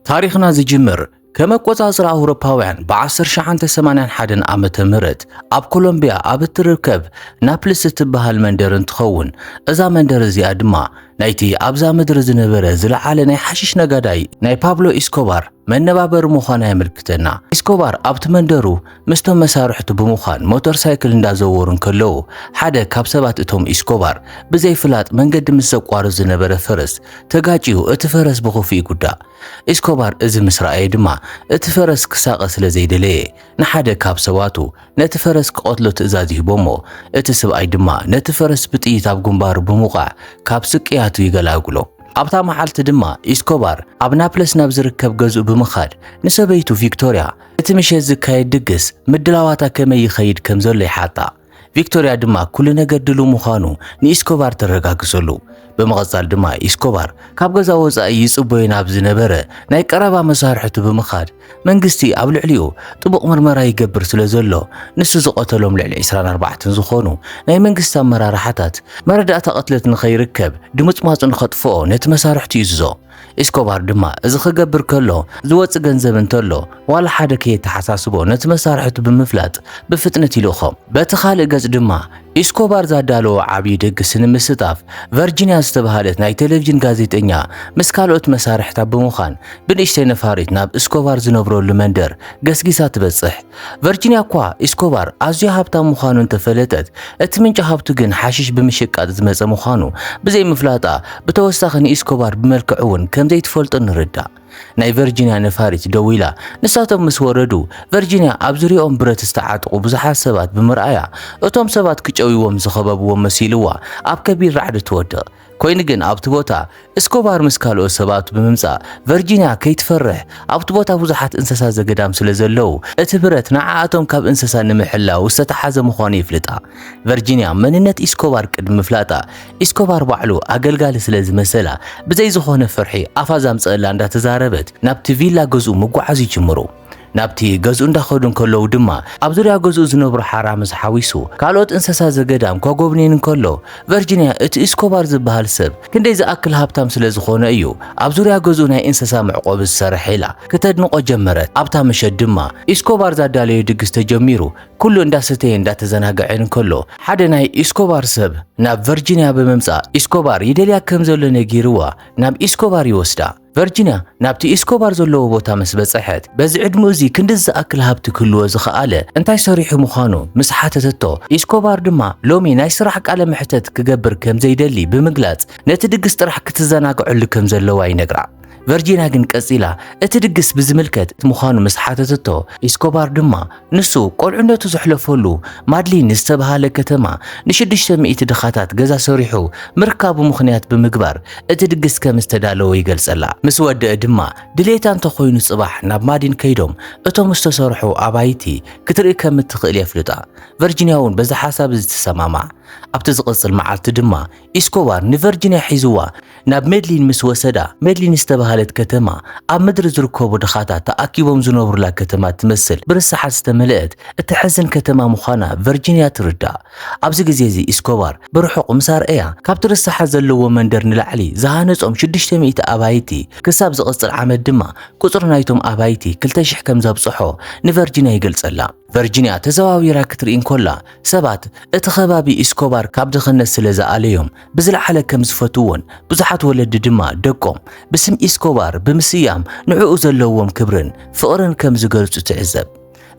ታሪኽና ዝጅምር ከም ኣቆጻጽራ ኣውሮፓውያን ብ1981 ዓመተ ምህረት ኣብ ኮሎምቢያ ኣብ እትርከብ ናፕልስ እትበሃል መንደር እንትኸውን እዛ መንደር እዚኣ ድማ ናይቲ ኣብዛ ምድሪ ዝነበረ ዝለዓለ ናይ ሓሽሽ ነጋዳይ ናይ ፓብሎ ኢስኮባር መነባበሪ ምዃና የመልክተና። ኢስኮባር ኣብቲ መንደሩ ምስቶም መሳርሕቱ ብምዃን ሞተር ሳይክል እንዳዘወሩ እንከለዉ ሓደ ካብ ሰባት እቶም ኢስኮባር ብዘይፍላጥ መንገዲ ምስ ዘቋርፅ ዝነበረ ፈረስ ተጋጭዩ እቲ ፈረስ ብኽፉ ይጉዳእ። ኢስኮባር እዚ ምስ ረኣየ ድማ እቲ ፈረስ ክሳቐ ስለ ዘይደለየ ንሓደ ካብ ሰባቱ ነቲ ፈረስ ክቐትሎ ትእዛዝ ይህቦሞ እቲ ስብኣይ ድማ ነቲ ፈረስ ብጥይት ኣብ ግንባሩ ብምውቃዕ ካብ ስቅያቱ ይገላግሎ። ኣብታ መዓልቲ ድማ ኢስኮባር ኣብ ናፕለስ ናብ ዝርከብ ገዝኡ ብምኻድ ንሰበይቱ ቪክቶሪያ እቲ ምሸት ዝካየድ ድግስ ምድላዋታ ከመይ ይኸይድ ከም ዘሎ ይሓታ። ቪክቶርያ ድማ ኩሉ ነገር ድሉው ምዃኑ ንኢስኮባር ተረጋግጸሉ። ብምቕጻል ድማ ኢስኮባር ካብ ገዛ ወጻኢ ይጽበዮ ናብ ዝነበረ ናይ ቀረባ መሳርሕቱ ብምኻድ መንግስቲ ኣብ ልዕሊኡ ጥቡቕ ምርመራ ይገብር ስለ ዘሎ ንሱ ዝቐተሎም ልዕሊ 24 ዝኾኑ ናይ መንግስቲ ኣመራርሓታት መረዳእታ ቅትለት ንኸይርከብ ድምጽማጹ ንኸጥፍኦ ነቲ መሳርሕቱ ይእዝዞ። ኢስኮባር ድማ እዚ ክገብር ከሎ ዝወጽእ ገንዘብ እንተሎ ዋላ ሓደ ከየተሓሳስቦ ነቲ መሳርሕቱ ብምፍላጥ ብፍጥነት ይልእኾ። በቲ ካልእ ገጽ ድማ ኢስኮባር ዛዳለዎ ዓብዪ ድግስ ንምስታፍ ቨርጂንያ ዝተብሃለት ናይ ቴሌቪዥን ጋዜጠኛ ምስ ካልኦት መሳርሕታ ብምዃን ብንእሽተይ ነፋሪት ናብ እስኮባር ዝነብረሉ መንደር ገስጊሳ ትበጽሕ። ቨርጂንያ እኳ ኢስኮባር ኣዝዩ ሃብታም ምዃኑ እንተፈለጠት፣ እቲ ምንጪ ሃብቱ ግን ሓሽሽ ብምሽቃጥ ዝመጸ ምዃኑ ብዘይምፍላጣ፣ ብተወሳኺ ንኢስኮባር ብመልክዑ እውን ከም ዘይትፈልጦ ንርዳእ። ናይ ቨርጂንያ ነፋሪት ደው ኢላ፣ ንሳቶም ምስ ወረዱ፣ ቨርጂንያ ኣብ ዙርያኦም ብረት ዝተዓጥቑ ብዙሓት ሰባት ብምርኣያ፣ እቶም ሰባት ክጨውይዎም ዝኸበብዎም መሲልዋ ኣብ ከቢድ ራዕዲ ትወድቕ። ኮይኑ ግን ኣብቲ ቦታ እስኮባር ምስ ካልኦት ሰባት ብምምጻእ ቨርጂንያ ከይትፈርሕ ኣብቲ ቦታ ብዙሓት እንሰሳ ዘገዳም ስለ ዘለው እቲ ብረት ንዓኣቶም ካብ እንሰሳ ንምሕላው ዝተታሓዘ ምዃኑ የፍልጣ። ቨርጂንያ መንነት ኢስኮባር ቅድሚ ምፍላጣ ኢስኮባር ባዕሉ ኣገልጋሊ ስለ ዝመሰላ ብዘይ ዝኾነ ፍርሒ ኣፋ ዛምጸኣላ እንዳተዛረበት ናብቲ ቪላ ገዝኡ ምጉዓዝ ይጅምሩ። ናብቲ ገዝኡ እንዳኸዱ እንከለዉ ድማ ኣብ ዙርያ ገዝኡ ዝነብሩ ሓራ ምስ ሓዊሱ ካልኦት እንሰሳ ዘገዳም ከጎብኔን እንከሎ ቨርጂንያ እቲ ኢስኮባር ዝበሃል ሰብ ክንደይ ዝኣክል ሃብታም ስለ ዝኾነ እዩ ኣብ ዙርያ ገዝኡ ናይ እንሰሳ መዕቆቢ ዝሰርሕ ኢላ ክተድንቆ ጀመረት ኣብታ ምሸት ድማ ኢስኮባር ዛዳለዮ ድግስ ተጀሚሩ ኩሉ እንዳሰተየን እንዳተዘናገዐን እንከሎ ሓደ ናይ ኢስኮባር ሰብ ናብ ቨርጂንያ ብምምጻእ ኢስኮባር ይደልያ ከም ዘሎ ነጊርዋ ናብ ኢስኮባር ይወስዳ ቨርጂንያ ናብቲ ኤስኮባር ዘለዎ ቦታ ምስ በጸሐት፣ በዚ ዕድመኡ እዚ ክንድዚ ዝኣክል ሃብቲ ክህልዎ ዝኸኣለ እንታይ ሰሪሑ ምዃኑ ምስ ሓተተቶ፣ ኤስኮባር ድማ ሎሚ ናይ ስራሕ ቃለ መሕተት ክገብር ከም ዘይደሊ ብምግላጽ ነቲ ድግስ ጥራሕ ክትዘናግዐሉ ከም ዘለዋ ይነግራ። ቨርጂንያ ግን ቀጺላ እቲ ድግስ ብዝምልከት ምዃኑ ምስ ሓተተቶ፣ ኤስኮባር ድማ ንሱ ቆልዕነቱ ዘሕለፈሉ ማድሊን ዝተብሃለ ከተማ ንሽዱሽተ ሚእቲ ድኻታት ገዛ ሰሪሑ ምርካቡ ምኽንያት ብምግባር እቲ ድግስ ከም ዝተዳለወ ይገልጸላ። ምስ ወደእ ድማ ድሌታ እንተኾይኑ ጽባሕ ናብ ማዲን ከይዶም እቶም ዝተሰርሑ ኣባይቲ ክትርኢ ከም እትኽእል የፍልጣ። ቨርጂንያ እውን በዚ ሓሳብ እዚ ትሰማማዕ። ኣብቲ ዝቕጽል መዓልቲ ድማ ኢስኮባር ንቨርጂንያ ሒዝዋ ናብ ሜድሊን ምስ ወሰዳ፣ ሜድሊን ዝተባህለት ከተማ ኣብ ምድሪ ዝርከቡ ድኻታት ተኣኪቦም ዝነብሩላ ከተማ እትመስል ብርሰሓት ዝተመልአት እተሕዝን ከተማ ምዃና ቨርጂንያ ትርዳእ። ኣብዚ ግዜ እዚ ኢስኮባር ብርሑቕ ምስ ኣርኣያ፣ ካብቲ ርሰሓት ዘለዎ መንደር ንላዕሊ ዝሃነጾም ሽዱሽተ ሚእቲ ኣባይቲ፣ ክሳብ ዝቕጽል ዓመት ድማ ቍጽሪ ናይቶም ኣባይቲ ክልተ ሽሕ ከም ዘብጽሖ ንቨርጂንያ ይገልጸላ። ቨርጂንያ ተዘዋዊራ ክትርኢ እንከላ፣ ሰባት እቲ ከባቢ ኢስኮባር ካብ ድኽነት ስለ ዝኣለዮም ብዝለዓለ ከም ዝፈትውዎን ብዙሓት ወለዲ ድማ ደቆም ብስም ኢስኮባር ብምስያም ንዕኡ ዘለዎም ክብርን ፍቕርን ከም ዝገልጹ ትዕዘብ።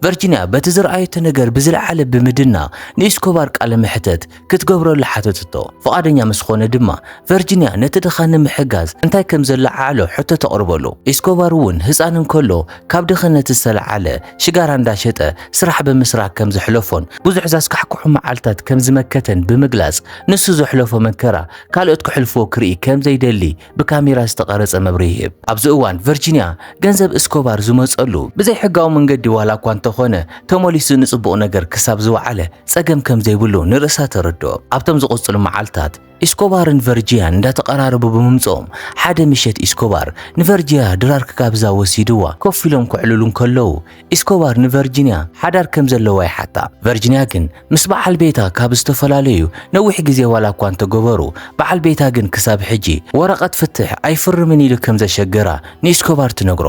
ቨርጂንያ በቲ ዝረኣየቶ ነገር ብዝለዓለ ብምድናቕ ንኢስኮባር ቃለ መሕተት ክትገብረሉ ሓተትቶ። ፍቓደኛ ምስ ኾነ ድማ ቨርጂንያ ነቲ ድኻ ንምሕጋዝ እንታይ ከም ዘለዓዕሎ ሕቶ ተቕርበሉ። ኢስኮባር እውን ህጻን እንከሎ ካብ ድኽነት ዝተለዓለ ሽጋራ እንዳሸጠ ስራሕ ብምስራክ ከም ዘሕለፎን ብዙሕ ዘስካሕክሑ መዓልታት ከም ዝመከተን ብምግላጽ ንሱ ዘሕለፎ መከራ ካልኦት ክሕልፍዎ ክርኢ ከም ዘይደሊ ብካሜራ ዝተቐረጸ መብርሂ ይህብ። ኣብዚ እዋን ቨርጂንያ ገንዘብ እስኮባር ዝመጸሉ ብዘይሕጋዊ መንገዲ ዋላ እኳ እንተኾነ ተመሊሱ ንጽቡቕ ነገር ክሳብ ዝወዓለ ጸገም ከም ዘይብሉ ንርእሳ ተረድኦ። ኣብቶም ዝቕጽሉ መዓልታት ኢስኮባርን ቨርጂያን እንዳተቐራረቡ ብምምጽኦም ሓደ ምሸት ኢስኮባር ንቨርጂያ ድራር ክጋብዛ ወሲድዋ ኮፍ ኢሎም ከዕልሉ እንከለዉ ኢስኮባር ንቨርጂንያ ሓዳር ከም ዘለዋ ይሓታ። ቨርጂንያ ግን ምስ በዓል ቤታ ካብ ዝተፈላለዩ ነዊሕ ግዜ ዋላ እኳ እንተገበሩ፣ በዓል ቤታ ግን ክሳብ ሕጂ ወረቐት ፍትሕ ኣይፍርምን ኢሉ ከም ዘሸገራ ንኢስኮባር ትነግሮ።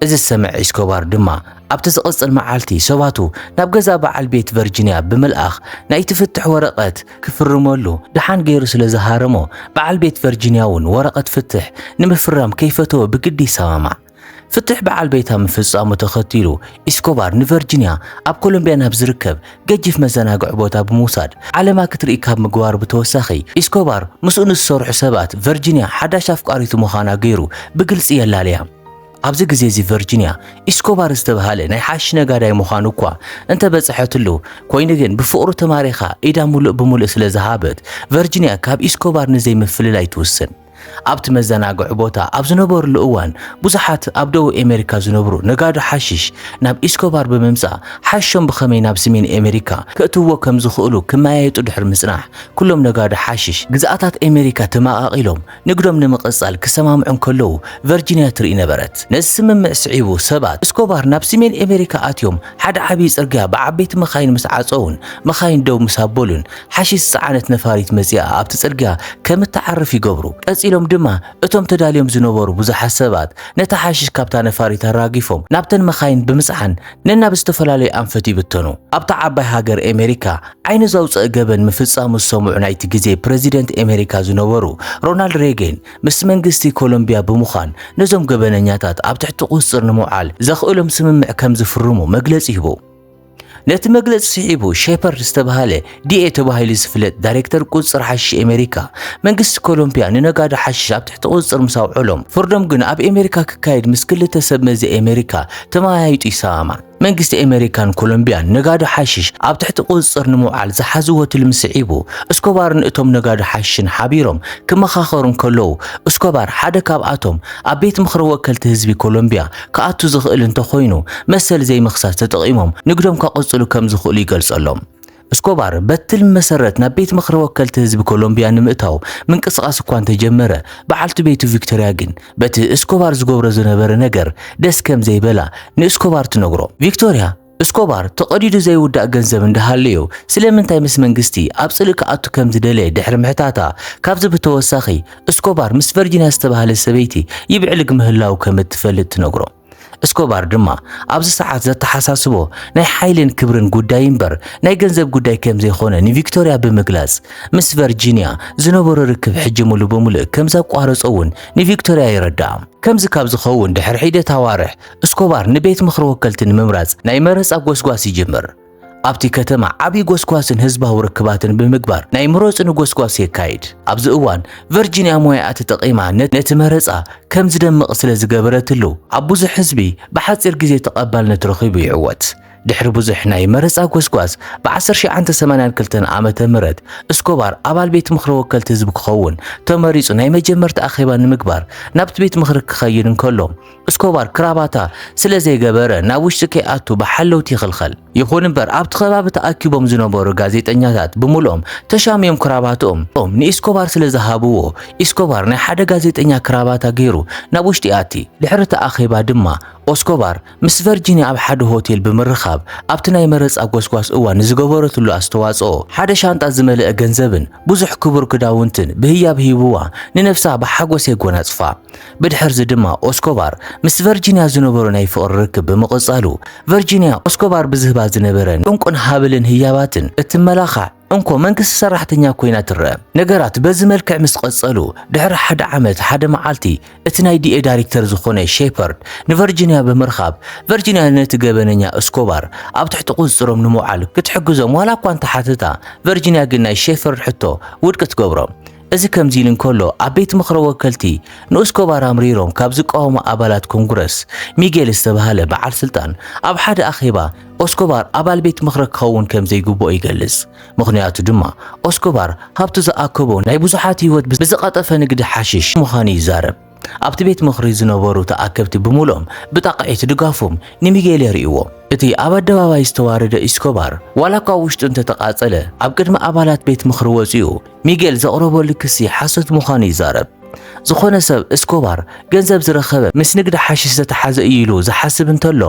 እዚ ዝሰምዐ ኢስኮባር ድማ ኣብቲ ዝቕጽል መዓልቲ ሰባቱ ናብ ገዛ በዓል ቤት ቨርጂንያ ብምልኣኽ ናይቲ ፍትሕ ወረቐት ክፍርመሉ ደሓን ገይሩ ስለ ዝሃረሞ በዓል ቤት ቨርጂንያ እውን ወረቐት ፍትሕ ንምፍራም ከይፈተወ ብግዲ ይሰማማዕ። ፍትሕ በዓል ቤታ ምፍጻሙ ተኸቲሉ ኢስኮባር ንቨርጂንያ ኣብ ኮሎምቢያ ናብ ዝርከብ ገጅፍ መዘናግዒ ቦታ ብምውሳድ ዓለማ ክትርኢ ካብ ምግባሩ ብተወሳኺ ኢስኮባር ምስኡ ንዝሰርሑ ሰባት ቨርጂንያ ሓዳሽ ኣፍቃሪቱ ምዃና ገይሩ ብግልጺ የላልያ። ኣብዚ ግዜ እዚ ቨርጂንያ ኢስኮባር ዝተብሃለ ናይ ሓሽሽ ነጋዳይ ምዃኑ እኳ እንተበጽሐትሉ ኮይኑ ግን ብፍቕሩ ተማሪኻ ኢዳ ምሉእ ብምሉእ ስለ ዝሃበት ቨርጂንያ ካብ ኢስኮባር ንዘይምፍልላይ ትውስን። ኣብቲ መዘናግዒ ቦታ ኣብ ዝነበርሉ እዋን ብዙሓት ኣብ ደቡብ ኣሜሪካ ዝነብሩ ነጋዶ ሓሽሽ ናብ ኢስኮባር ብምምጻእ ሓሽሾም ብኸመይ ናብ ስሜን ኣሜሪካ ከእትውዎ ከም ዝኽእሉ ክመያየጡ ድሕሪ ምጽናሕ ኩሎም ነጋዶ ሓሽሽ ግዝኣታት ኣሜሪካ ተመቓቒሎም ንግዶም ንምቕጻል ክሰማምዑ እንከለዉ ቨርጂንያ ትርኢ ነበረት። ነዚ ስምምዕ ስዒቡ ሰባት እስኮባር ናብ ስሜን ኣሜሪካ ኣትዮም ሓደ ዓብዪ ጽርግያ ብዓበይቲ መኻይን ምስ ዓጸዉን መኻይን ደው ምስ ኣበሉን ሓሺሽ ዝጸዓነት ነፋሪት መጺኣ ኣብቲ ጽርግያ ከም እትዓርፍ ይገብሩ። ቀጺሎም ድማ እቶም ተዳልዮም ዝነበሩ ብዙሓት ሰባት ነቲ ሓሺሽ ካብታ ነፋሪት ኣራጊፎም ናብተን መኻይን ብምጽዓን ነናብ ዝተፈላለዩ ኣንፈት ይብተኑ። ኣብታ ዓባይ ሃገር ኤመሪካ ዓይኒ ዘውጸእ ገበን ምፍጻሙ ዝሰምዑ ናይቲ ግዜ ፕረዚደንት ኤመሪካ ዝነበሩ ሮናልድ ሬጌን ምስ መንግስቲ ኮሎምቢያ ብምዃን ነዞም ገበነኛታት ኣብ ትሕቲ ቁጽጽር ንምውዓል ዘኽእሎም ስምምዕ ከም ዝፍርሙ መግለጺ ሂቡ። ነቲ መግለጺ ስዒቡ ሼፐርድ ዝተባህለ ዲኤ ተባሂሉ ዝፍለጥ ዳይሬክተር ቁጽጽር ሓሽሽ ኣሜሪካ መንግስቲ ኮሎምቢያ ንነጋዶ ሓሽሽ ኣብ ትሕቲ ቁጽጽር ምስ ኣውዕሎም ፍርዶም ግን ኣብ ኣሜሪካ ክካየድ ምስ ክልተ ሰብ መዚ ኣሜሪካ ተመያይጡ ይሰማማዕ። መንግስቲ ኣሜሪካን ኮሎምቢያን ነጋዶ ሓሽሽ ኣብ ትሕቲ ቁጽጽር ንምውዓል ዝሓዝዎ ትልሚ ስዒቡ እስኮባርን እቶም ነጋዶ ሓሽሽን ሓቢሮም ክመኻኸሩ እንከለዉ እስኮባር ሓደ ካብኣቶም ኣብ ቤት ምኽሪ ወከልቲ ህዝቢ ኮሎምቢያ ክኣቱ ዝኽእል እንተኾይኑ መሰል ዘይምኽሳስ ተጠቒሞም ንግዶም ከቕጽሉ ከም ዝኽእሉ ይገልጸሎም። እስኮባር በቲ ትልሚ መሰረት ናብ ቤት ምኽሪ ወከልቲ ህዝቢ ኮሎምብያ ንምእታው ምንቅስቓስ እኳ እንተጀመረ፣ በዓልቲ ቤቱ ቪክቶርያ ግን በቲ እስኮባር ዝገብሮ ዝነበረ ነገር ደስ ከም ዘይበላ ንእስኮባር ትነግሮ። ቪክቶርያ እስኮባር ተቐዲዱ ዘይውዳእ ገንዘብ እንዳሃለዮ ስለምንታይ ምስ መንግስቲ ኣብ ጽልኢ ክኣቱ ከም ዝደለየ ድሕሪ ምሕታታ፣ ካብዚ ብተወሳኺ እስኮባር ምስ ቨርጂንያ ዝተባህለት ሰበይቲ ይብዕልግ ምህላዉ ከም እትፈልጥ ትነግሮ። እስኮባር ድማ ኣብዚ ሰዓት ዘተሓሳስቦ ናይ ሓይልን ክብርን ጉዳይ እምበር ናይ ገንዘብ ጉዳይ ከም ዘይኮነ ንቪክቶርያ ብምግላጽ ምስ ቨርጂንያ ዝነበሮ ርክብ ሕጂ ሙሉ ብምሉእ ከም ዘቋረጾ እውን ንቪክቶርያ የረድኣ። ከምዚ ካብ ዝኸውን ድሕሪ ሒደት ኣዋርሕ እስኮባር ንቤት ምኽሪ ወከልቲ ንምምራጽ ናይ መረጻ ጎስጓስ ይጅምር። ኣብቲ ከተማ ዓብዪ ጎስጓስን ህዝባዊ ርክባትን ብምግባር ናይ ምረጹኒ ጎስጓስ የካይድ። ኣብዚ እዋን ቨርጂንያ ሞያኣ ተጠቒማ ነቲ መረጻ ከም ዝደምቕ ስለ ዝገበረትሉ ኣብ ብዙሕ ህዝቢ ብሓጺር ግዜ ተቐባልነት ረኺቡ ይዕወት። ድሕሪ ብዙሕ ናይ መረጻ ጎስጓስ ብ1982 ዓመተ ምህረት እስኮባር ኣባል ቤት ምኽሪ ወከልቲ ህዝቢ ክኸውን ተመሪጹ ናይ መጀመርታ ኣኼባ ንምግባር ናብቲ ቤት ምኽሪ ክኸይድ እንከሎ እስኮባር ክራባታ ስለ ዘይገበረ ናብ ውሽጢ ከይኣቱ ብሓለውቲ ይኽልኸል። ይኹን እምበር ኣብቲ ከባቢ ተኣኪቦም ዝነበሩ ጋዜጠኛታት ብምልኦም ተሻምዮም ክራባትኦም ንኢስኮባር ስለ ዝሃብዎ ኢስኮባር ናይ ሓደ ጋዜጠኛ ክራባታ ገይሩ ናብ ውሽጢ ይኣቲ። ድሕሪ እቲ ኣኼባ ድማ ኦስኮባር ምስ ቨርጂንያ ኣብ ሓደ ሆቴል ብምርኻብ ኣብቲ ናይ መረጻ ጎስጓስ እዋን ንዝገበረትሉ ኣስተዋጽኦ ሓደ ሻንጣ ዝመልአ ገንዘብን ብዙሕ ክቡር ክዳውንትን ብህያብ ሂብዋ ንነብሳ ብሓጎስ የጎናጽፋ። ብድሕርዚ ድማ ኦስኮባር ምስ ቨርጂንያ ዝነበሮ ናይ ፍቕሪ ርክብ ብምቕጻሉ፣ ቨርጂንያ ኦስኮባር ብዝህባ ዝነበረ እንቁን ሃብልን ህያባትን እትመላኻዕ እንኮ መንግስቲ ሰራሕተኛ ኮይና ትረኣ። ነገራት በዚ መልክዕ ምስ ቐጸሉ፣ ድሕሪ ሓደ ዓመት ሓደ መዓልቲ እቲ ናይ ዲኤ ዳይሬክተር ዝኾነ ሼፐርድ ንቨርጂንያ ብምርኻብ፣ ቨርጂንያ ነቲ ገበነኛ እስኮባር ኣብ ትሕቲ ቁጽጽሮም ንምውዓል ክትሕግዞም ዋላ እኳ እንተሓተታ፣ ቨርጂንያ ግን ናይ ሼፐርድ ሕቶ ውድቂ ትገብሮ። እዚ ከምዚ ኢሉ እንከሎ፣ ኣብ ቤት ምኽረ ወከልቲ ንኡስኮባር ኣምሪሮም ካብ ዝቃወሙ ኣባላት ኮንግረስ፣ ሚጌል ዝተባህለ በዓል ስልጣን ኣብ ሓደ ኣኼባ ኦስኮባር ኣባል ቤት ምኽረ ክኸውን ከም ዘይግብኦ ይገልጽ። ምኽንያቱ ድማ ኦስኮባር ሃብቱ ዝኣከቦ ናይ ብዙሓት ህይወት ብዝቐጠፈ ንግዲ ሓሽሽ ምዃኑ ይዛረብ። ኣብቲ ቤት ምኽሪ ዝነበሩ ተኣከብቲ ብምሉኦም ብጣቕዒት ድጋፎም ንሚጌል የርእይዎ። እቲ ኣብ ኣደባባይ ዝተዋረደ ኢስኮባር፣ ዋላ እኳ ኣብ ውሽጡ እንተተቓጸለ፣ ኣብ ቅድሚ ኣባላት ቤት ምኽሪ ወጺኡ ሚጌል ዘቕረበሉ ክሲ ሓሶት ምዃኑ ይዛረብ። ዝኾነ ሰብ እስኮባር ገንዘብ ዝረኸበ ምስ ንግዲ ሓሽሽ ዝተተሓዘ እዩ ኢሉ ዝሓስብ እንተሎ፣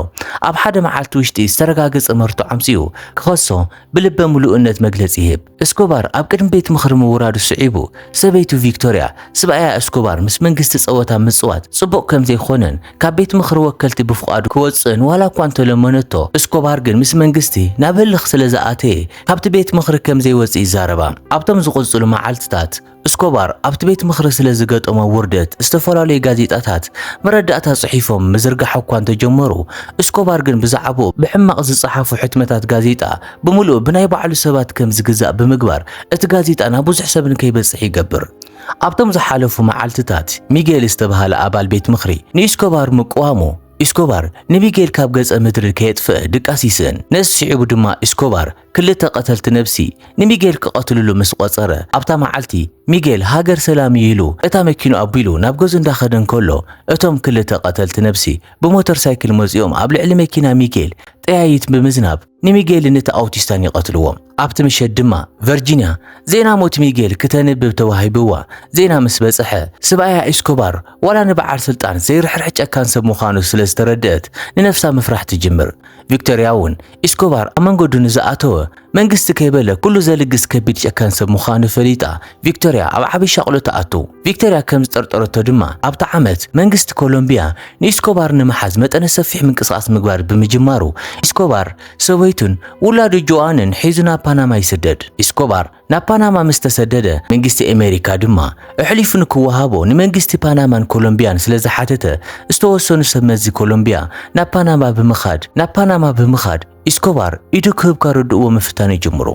ኣብ ሓደ መዓልቲ ውሽጢ ዝተረጋገጸ መርትዖ ኣምጺኡ ክኸሶ ብልበ ምሉእነት መግለጺ ይህብ። እስኮባር ኣብ ቅድሚ ቤት ምኽሪ ምውራዱ ስዒቡ፣ ሰበይቱ ቪክቶርያ፣ ስብኣያ እስኮባር ምስ መንግስቲ ጸወታ ምጽዋት ጽቡቕ ከም ዘይኮነን ካብ ቤት ምኽሪ ወከልቲ ብፍቓዱ ክወጽእን ዋላ እኳ እንተለመነቶ፣ እስኮባር ግን ምስ መንግስቲ ናብ ህልኽ ስለ ዝኣተየ ካብቲ ቤት ምኽሪ ከም ዘይወጽእ ይዛረባ። ኣብቶም ዝቕጽሉ መዓልትታት፣ እስኮባር ኣብቲ ቤት ምኽሪ ስለ ዝገጠሞ ውርደት ዝተፈላለዩ ጋዜጣታት መረዳእታ ጽሒፎም ምዝርጋሕ እኳ እንተጀመሩ፣ እስኮባር ግን ብዛዕባኡ ብሕማቕ ዝጸሓፉ ሕትመታት ጋዜጣ ብምሉኡ ብናይ ባዕሉ ሰባት ከም ዝግዛእ ብምግባር እቲ ጋዜጣ ናብ ብዙሕ ሰብ ንከይበጽሕ ይገብር። ኣብቶም ዝሓለፉ መዓልትታት፣ ሚጌል ዝተበሃለ ኣባል ቤት ምኽሪ ንኢስኮባር ምቅዋሙ፣ ኢስኮባር ንሚጌል ካብ ገጸ ምድሪ ከየጥፍእ ድቃስ ይስእን፣ ነዚ ስዒቡ ድማ ኢስኮባር፣ ክልተ ቀተልቲ ነብሲ ንሚጌል ክቐትልሉ ምስ ቆጸረ ኣብታ መዓልቲ ሚጌል ሃገር ሰላም እዩ ኢሉ እታ መኪኑ ኣቢሉ ናብ ገዙ እንዳኸደ እንከሎ እቶም ክልተ ቀተልቲ ነብሲ ብሞተር ሳይክል መጺኦም ኣብ ልዕሊ መኪና ሚጌል ጠያይት ብምዝናብ ንሚጌልን እቲ ኣውቲስታን ይቐትልዎም። ኣብቲ ምሸት ድማ ቨርጂንያ ዜና ሞት ሚጌል ክተንብብ ተዋሂብዋ ዜና ምስ በጽሐ ስብኣያ ኢስኮባር ዋላ ንበዓል ስልጣን ዘይርሕርሕ ጨካን ሰብ ምዃኑ ስለ ዝተረድአት ንነፍሳ ምፍራሕ ትጅምር። ቪክቶሪያ እውን ኢስኮባር ኣብ መንገዱ ንዝኣተወ መንግስቲ ከይበለ ኩሉ ዘልግስ ከቢድ ጨካን ሰብ ምዃኑ ፈሊጣ ቪክቶርያ ኣብ ዓብዪ ሻቕሎ ትኣቱ። ቪክቶርያ ከም ዝጠርጠረቶ ድማ ኣብታ ዓመት መንግስቲ ኮሎምብያ ንኢስኮባር ንምሓዝ መጠነ ሰፊሕ ምንቅስቓስ ምግባር ብምጅማሩ ኢስኮባር ሰበይቱን ውላዱ ጆኣንን ሒዙ ናብ ፓናማ ይስደድ። ኢስኮባር ናብ ፓናማ ምስ ተሰደደ፣ መንግስቲ ኣሜሪካ ድማ ኣሕሊፉ ንክወሃቦ ንመንግስቲ ፓናማን ኮሎምብያን ስለ ዝሓተተ፣ ዝተወሰኑ ሰብ መዚ ኮሎምብያ ናብ ፓናማ ብምኻድ ናብ ፓናማ ብምኻድ ኢስኮባር ኢዱ ክህብ ከረድእዎ ምፍታን ይጅምሩ።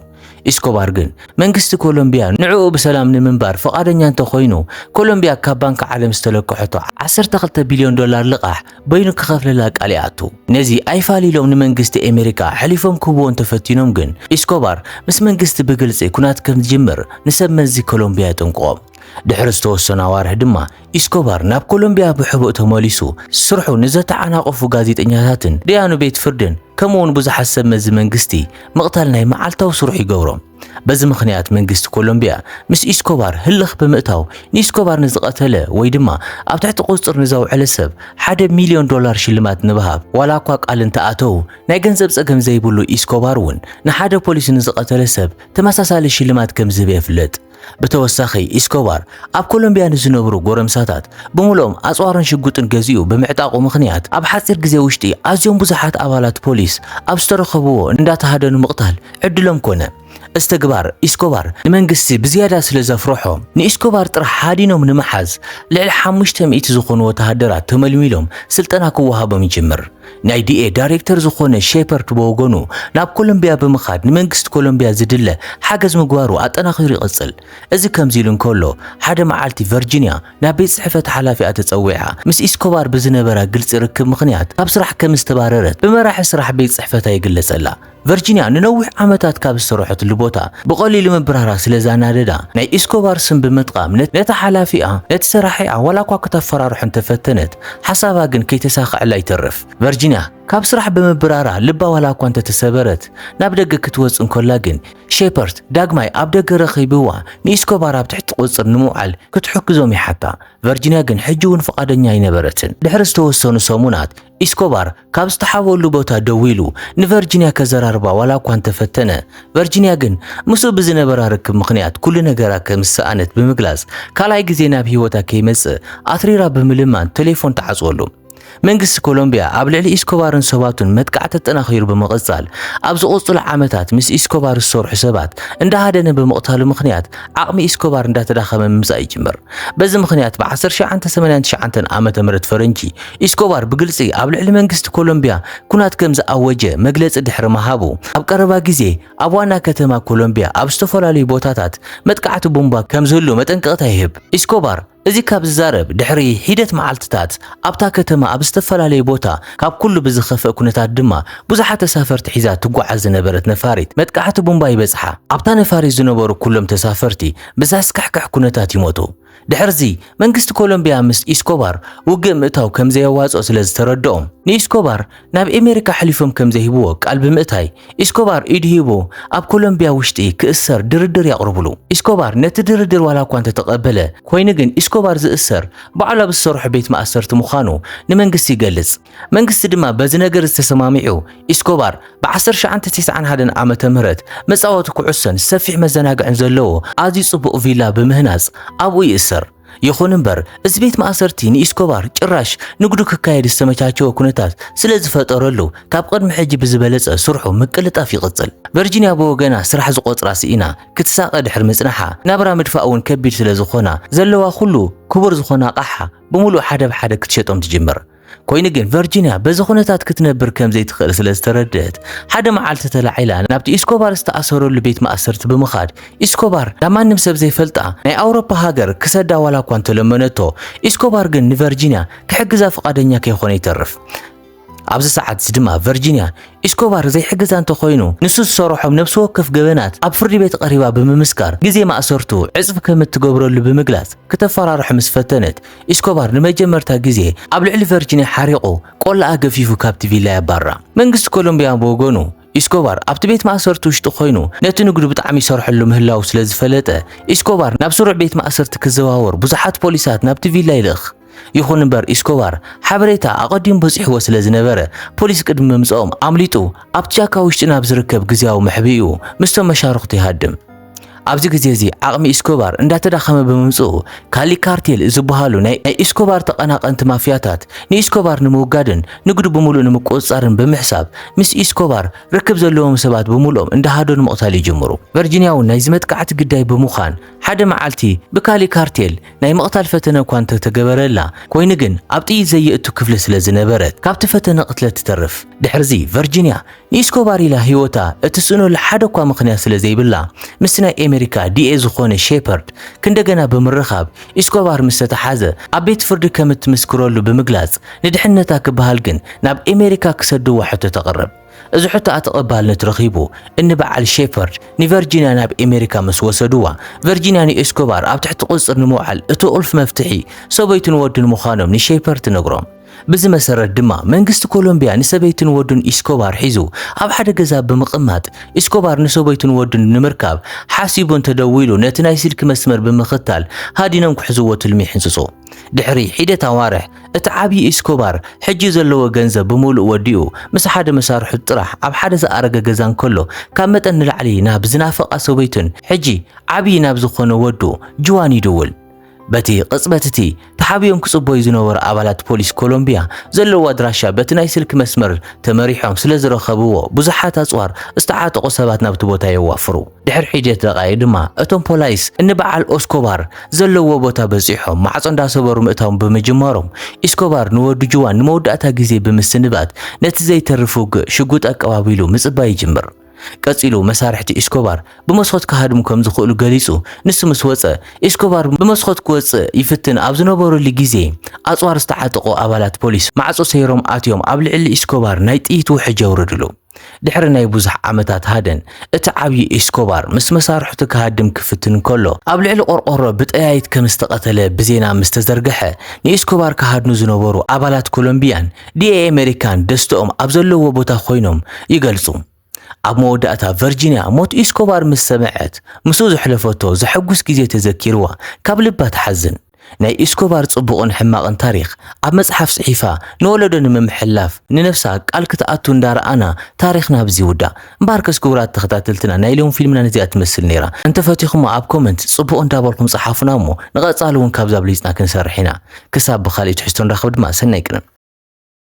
ኢስኮባር ግን መንግስቲ ኮሎምብያ ንዕኡ ብሰላም ንምንባር ፍቓደኛ እንተኾይኑ፣ ኮሎምብያ ካብ ባንኪ ዓለም ዝተለከሐቶ ዓሰርተ ክልተ ቢልዮን ዶላር ልቓሕ በይኑ ክኸፍለላ ቃል ይኣቱ። ነዚ ኣይፋል ኢሎም ንመንግስቲ ኣሜሪካ ኣሕሊፎም ክህብዎ እንተፈቲኖም ግን፣ ኢስኮባር ምስ መንግስቲ ብግልጺ ኵናት ከም ዝጅምር ንሰብ መዚ ኮሎምብያ የጠንቅቖም። ድሕሪ ዝተወሰኑ ኣዋርሕ ድማ ኢስኮባር ናብ ኮሎምብያ ብሕቡእ ተመሊሱ ስርሑ ንዘተዓናቐፉ ጋዜጠኛታትን ደያኑ ቤት ፍርድን ከምኡ'ውን ብዙሓት ሰብ መዚ መንግስቲ ምቕታል ናይ መዓልታዊ ስርሑ ይገብሮ። በዚ ምኽንያት መንግስቲ ኮሎምቢያ ምስ ኢስኮባር ህልኽ ብምእታው ንኢስኮባር ንዝቐተለ ወይ ድማ ኣብ ትሕቲ ቁፅፅር ንዘውዐለ ሰብ ሓደ ሚሊዮን ዶላር ሽልማት ንብሃብ ዋላ እኳ ቃል እንተኣተው ናይ ገንዘብ ፀገም ዘይብሉ ኢስኮባር እውን ንሓደ ፖሊስ ንዝቐተለ ሰብ ተመሳሳሊ ሽልማት ከምዝህብ የፍልጥ። ብተወሳኺ ኢስኮባር ኣብ ኮሎምብያ ንዝነብሩ ጎረምሳታት ብምሉኦም ኣጽዋርን ሽጉጥን ገዚኡ ብምዕጣቑ ምኽንያት ኣብ ሓጺር ግዜ ውሽጢ ኣዝዮም ብዙሓት ኣባላት ፖሊስ ኣብ ዝተረኸብዎ እንዳተሃደኑ ምቕታል ዕድሎም ኮነ። እዚ ተግባር ኢስኮባር ንመንግስቲ ብዝያዳ ስለ ዘፍረሖ ንኢስኮባር ጥራሕ ሃዲኖም ንምሓዝ ልዕሊ ሓሙሽተ ሚእቲ ዝኾኑ ወተሃደራት ተመልሚሎም ስልጠና ክወሃቦም ይጅምር። ናይ ዲኤ ዳይሬክተር ዝኾነ ሼፐርድ ብወገኑ ናብ ኮሎምብያ ብምኻድ ንመንግስቲ ኮሎምብያ ዝድለ ሓገዝ ምግባሩ ኣጠናኺሩ ይቕጽል። እዚ ከምዚ ኢሉ እንከሎ፣ ሓደ መዓልቲ ቨርጂንያ ናብ ቤት ጽሕፈት ሓላፊኣ ተጸዊዓ፣ ምስ ኢስኮባር ብዝነበራ ግልጺ ርክብ ምኽንያት ካብ ስራሕ ከም ዝተባረረት ብመራሒ ስራሕ ቤት ጽሕፈታ ይግለጸላ። ቨርጂንያ ንነዊሕ ዓመታት ካብ ዝሰርሖትሉ ቦታ ብቐሊሉ ምብራራ ስለ ዛናደዳ፣ ናይ ኢስኮባር ስም ብምጥቓም ነታ ሓላፊኣ ነቲ ሰራሒኣ ዋላኳ ክተፈራርሖ እንተፈተነት፣ ሓሳባ ግን ከይተሳኸዐላ ይተርፍ። ቨርጂንያ ካብ ስራሕ ብምብራራ ልባ ዋላኳ እንተተሰበረት፣ ናብ ደገ ክትወጽእ እንከላ ግን፣ ሼፐርት ዳግማይ ኣብ ደገ ረኺብዋ ንኢስኮባር ኣብ ትሕቲ ቁጽጽር ንምውዓል ክትሕግዞም ይሓታ። ቨርጂንያ ግን ሕጂ'ውን ፍቓደኛ ኣይነበረትን። ድሕሪ ዝተወሰኑ ሰሙናት፣ ኢስኮባር ካብ ዝተሓብኦሉ ቦታ ደው ኢሉ ንቨርጂንያ ከዘራርባ ዋላ እኳ እንተፈተነ፣ ቨርጂንያ ግን ምስኡ ብዝነበራ ርክብ ምኽንያት ኩሉ ነገራ ከም ዝሰኣነት ብምግላጽ ካልኣይ ግዜ ናብ ህይወታ ከይመጽእ ኣትሪራ ብምልማን ተሌፎን ትዓጽወሉ። መንግስቲ ኮሎምብያ ኣብ ልዕሊ ኢስኮባርን ሰባቱን መጥቃዕቲ ኣጠናኺሩ ብምቕጻል፣ ኣብ ዝቕጽሉ ዓመታት ምስ ኢስኮባር ዝሰርሑ ሰባት እንዳሃደነ ብምቕታሉ ምኽንያት ዓቕሚ ኢስኮባር እንዳተዳኸመ ምምጻእ ይጅምር። በዚ ምኽንያት ብ ዓሰርተ ትሽዓተ ሰማንያን ትሽዓተን ዓመተ ምህረት ፈረንጂ ኢስኮባር ብግልጺ ኣብ ልዕሊ መንግስቲ ኮሎምብያ ኩናት ከም ዝኣወጀ መግለጺ ድሕሪ ምሃቡ፣ ኣብ ቀረባ ግዜ ኣብ ዋና ከተማ ኮሎምብያ ኣብ ዝተፈላለዩ ቦታታት መጥቃዕቲ ቡምባ ከም ዝህሉ መጠንቀቕታ ይህብ። ኢስኮባር፣ እዚ ካብ ዝዛረብ ድሕሪ ሒደት መዓልትታት ኣብታ ከተማ ኣብ ዝተፈላለዩ ቦታ ካብ ኩሉ ብዝኸፍእ ኩነታት ድማ ብዙሓት ተሳፈርቲ ሒዛ ትጓዓዝ ዝነበረት ነፋሪት መጥቃዕቲ ቡምባ ይበጽሓ። ኣብታ ነፋሪት ዝነበሩ ኩሎም ተሳፈርቲ ብዘስካሕክሕ ኩነታት ይሞቱ። ድሕርዚ መንግስቲ ኮሎምብያ ምስ ኢስኮባር ውግእ ምእታው ከምዘየዋጽኦ ስለዝተረድኦም ንኢስኮባር ናብ ኤሜሪካ ኣሕሊፎም ከም ዘይህብዎ ቃል ብምእታይ፣ ኢስኮባር ኢዱ ሂቡ ኣብ ኮሎምቢያ ውሽጢ ክእሰር ድርድር የቕርብሉ። ኢስኮባር ነቲ ድርድር ዋላ እኳ እንተተቐበለ፣ ኮይኑ ግን ኢስኮባር ዝእሰር ባዕሉ ኣብ ዝሰርሖ ቤት ማእሰርቲ ምዃኑ ንመንግስቲ ይገልጽ። መንግስቲ ድማ በዚ ነገር እዚ ተሰማሚዑ፣ ኢስኮባር ብዓሰርተ ትሽዓተ ተስዓን ሓደን ዓመተ ምህረት መጻወቲ ኩዕሶን ሰፊሕ መዘናግዕን ዘለዎ ኣዝዩ ጽቡቕ ቪላ ብምህናጽ ኣብኡ ይእሰር። ይኹን እምበር እዚ ቤት ማእሰርቲ ንኢስኮባር ጭራሽ ንግዱ ክካየድ ዝተመቻቸወ ኩነታት ስለ ዝፈጠረሉ ካብ ቅድሚ ሕጂ ብዝበለጸ ስርሑ ምቅልጣፍ ይቕጽል። ቨርጂንያ ብወገና ስራሕ ዝቖጽራ ስኢና ክትሳቐ ድሕሪ ምጽናሓ ናብራ ምድፋእ እውን ከቢድ ስለ ዝኾና ዘለዋ ኩሉ ክቡር ዝኾነ ኣቓሓ ብምሉእ ሓደ ብሓደ ክትሸጦም ትጅምር። ኮይኑ ግን ቨርጂንያ በዚ ኩነታት ክትነብር ከም ዘይትኽእል ስለ ዝተረድእት ሓደ መዓልቲ ተላዒላ ናብቲ ኢስኮባር ዝተኣሰረሉ ቤት ማእሰርቲ ብምኻድ ኢስኮባር ናብ ማንም ሰብ ዘይፈልጣ ናይ ኣውሮፓ ሃገር ክሰዳ ዋላ እኳ እንተለመነቶ ኢስኮባር ግን ንቨርጂንያ ክሕግዛ ፍቓደኛ ከይኾነ ይተርፍ። ኣብዚ ሰዓት እዚ ድማ ቨርጂንያ ኢስኮባር ዘይሕግዛ እንተኾይኑ ንሱ ዝሰረሖም ነብሲ ወከፍ ገበናት ኣብ ፍርዲ ቤት ቀሪባ ብምምስካር ግዜ ማእሰርቱ ዕጽፍ ከም እትገብረሉ ብምግላጽ ክተፈራርሑ ምስ ፈተነት ኢስኮባር ንመጀመርታ ግዜ ኣብ ልዕሊ ቨርጂንያ ሓሪቑ ቆላኣ ገፊፉ ካብቲ ቪላ የባርራ። መንግስቲ ኮሎምብያ ብወገኑ፣ ኢስኮባር ኣብቲ ቤት ማእሰርቲ ውሽጢ ኮይኑ ነቲ ንግዱ ብጣዕሚ ይሰርሐሉ ምህላዉ ስለዝፈለጠ፣ ኢስኮባር ናብ ስሩዕ ቤት ማእሰርቲ ክዘዋወር ብዙሓት ፖሊሳት ናብቲ ቪላ ይልእኽ። ይኹን እምበር ኢስኮባር ሓበሬታ ኣቐዲሙ በጺሕዎ ስለዝነበረ፣ ፖሊስ ቅድሚ ምምጽኦም ኣምሊጡ ኣብቲ ጫካ ውሽጢ ናብ ዝርከብ ግዝያዊ መሕብኢኡ ምስቶም መሻርኽቱ ይሃድም። ኣብዚ ግዜ እዚ ዓቕሚ ኢስኮባር እንዳተዳኸመ ብምምጽኡ ካሊ ካርቴል ዝበሃሉ ናይ ኢስኮባር ተቐናቐንቲ ማፍያታት ንኢስኮባር ንምውጋድን ንግዱ ብምሉእ ንምቁጽጻርን ብምሕሳብ ምስ ኢስኮባር ርክብ ዘለዎም ሰባት ብምሉኦም እንዳሃደኑ ምቕታል ይጅምሩ። ቨርጂንያ እውን ናይዚ መጥቃዕቲ ግዳይ ብምዃን ሓደ መዓልቲ ብካሊ ካርቴል ናይ ምቕታል ፈተነ እኳ እንተተገበረላ ኮይኑ ግን ኣብ ጥይት ዘየእቱ ክፍሊ ስለዝነበረት ካብቲ ፈተነ ቅትለት ትተርፍ። ድሕርዚ ቨርጂንያ ንኢስኮባር ኢላ ህይወታ እትስእነሉ ሓደ'ኳ ምኽንያት ስለ ዘይብላ፣ ምስቲ ናይ ኤመሪካ ዲኤ ዝኾነ ሼፐርድ ክንደገና ብምርኻብ ኢስኮባር ምስ ተታሓዘ ኣብ ቤት ፍርዲ ከም እትምስክረሉ ብምግላጽ ንድሕነታ ክበሃል ግን ናብ ኤመሪካ ክሰድዋ ሕቶ ተቕርብ። እዚ ሕቶኣ ተቐባልነት ረኺቡ እኒ በዓል ሼፐርድ ንቨርጂንያ ናብ ኤመሪካ ምስ ወሰድዋ ቨርጂንያ ንኢስኮባር ኣብ ትሕቲ ቁጽጽር ንምውዓል እቲ ቁልፊ መፍትሒ ሰበይቱን ወዱን ምዃኖም ንሼፐርድ ትነግሮም። ብዚ መሰረት ድማ መንግስቲ ኮሎምቢያ ንሰበይቱን ወዱን ኢስኮባር ሒዙ ኣብ ሓደ ገዛ ብምቕማጥ ኢስኮባር ንሰበይቱን ወዱን ንምርካብ ሓሲቡ እንተደዊሉ ነቲ ናይ ስልኪ መስመር ብምኽታል ሃዲኖም ክሕዝዎ ትልሚ ይሕንጽጹ። ድሕሪ ሒደት ኣዋርሕ እቲ ዓብዪ ኢስኮባር ሕጂ ዘለዎ ገንዘብ ብምሉእ ወዲኡ ምስ ሓደ መሳርሑት ጥራሕ ኣብ ሓደ ዝኣረገ ገዛ እንከሎ ካብ መጠን ንላዕሊ ናብ ዝናፈቓ ሰበይቱን ሕጂ ዓብዪ ናብ ዝኾነ ወዱ ጁዋን ይድውል። በቲ ቅጽበት እቲ ተሓቢኦም ክጽበዩ ዝነበሩ ኣባላት ፖሊስ ኮሎምቢያ ዘለዎ ኣድራሻ በቲ ናይ ስልኪ መስመር ተመሪሖም ስለ ዝረኸብዎ ብዙሓት ኣጽዋር ዝተዓጠቑ ሰባት ናብቲ ቦታ የዋፍሩ። ድሕሪ ሒደት ደቓይቕ ድማ እቶም ፖላይስ እንበዓል ኦስኮባር ዘለዎ ቦታ በጺሖም ማዕጾ እንዳሰበሩ ምእታዎም ብምጅማሮም ኢስኮባር ንወዱ ጁዋን ንመወዳእታ ግዜ ብምስንባት ነቲ ዘይተርፍ ውግእ ሽጉጥ ኣቀባቢሉ ምጽባይ ይጅምር። ቀጺሉ መሳርሕቲ ኢስኮባር ብመስኮት ክሃድሙ ከም ዝኽእሉ ገሊጹ። ንሱ ምስ ወጸ፣ ኢስኮባር ብመስኮት ክወጽእ ይፍትን ኣብ ዝነበረሉ ግዜ፣ ኣጽዋር ዝተዓጠቑ ኣባላት ፖሊስ ማዕጾ ሰይሮም ኣትዮም ኣብ ልዕሊ ኢስኮባር ናይ ጥይት ውሕጅ የውርድሉ። ድሕሪ ናይ ብዙሕ ዓመታት ሃደን፣ እቲ ዓብዪ ኢስኮባር ምስ መሳርሕቱ ክሃድም ክፍትን ከሎ፣ ኣብ ልዕሊ ቆርቆሮ ብጠያይት ከም ዝተቐተለ ብዜና ምስ ተዘርግሐ፣ ንኢስኮባር ክሃድኑ ዝነበሩ ኣባላት ኮሎምብያን ዲኤ ኣመሪካን ደስተኦም ኣብ ዘለዎ ቦታ ኮይኖም ይገልጹ። ኣብ መወዳእታ ቨርጂንያ ሞት ኢስኮባር ምስ ሰምዐት ምስኡ ዘሕለፈቶ ዘሐጉስ ግዜ ተዘኪርዋ ካብ ልባ ትሓዝን። ናይ ኢስኮባር ጽቡቕን ሕማቕን ታሪኽ ኣብ መጽሓፍ ጽሒፋ ንወለዶ ንምምሕልላፍ ንነብሳ ቃል ክትኣቱ እንዳረኣና ታሪኽና ኣብዚ ይውዳእ። እምበኣርከስ ክቡራት ተኸታተልትና ናይ ሎሚ ፊልምና ነዚኣ ትመስል ነይራ። እንተፈቲኹማ ኣብ ኮመንት ጽቡቕ እንዳበልኩም ጽሓፉና እሞ ንቐጻሊ እውን ካብዚ ኣብሊጽና ክንሰርሕ ኢና። ክሳብ ብኻልእ ትሕዝቶ ንራኸብ ድማ ሰናይ ቅነ።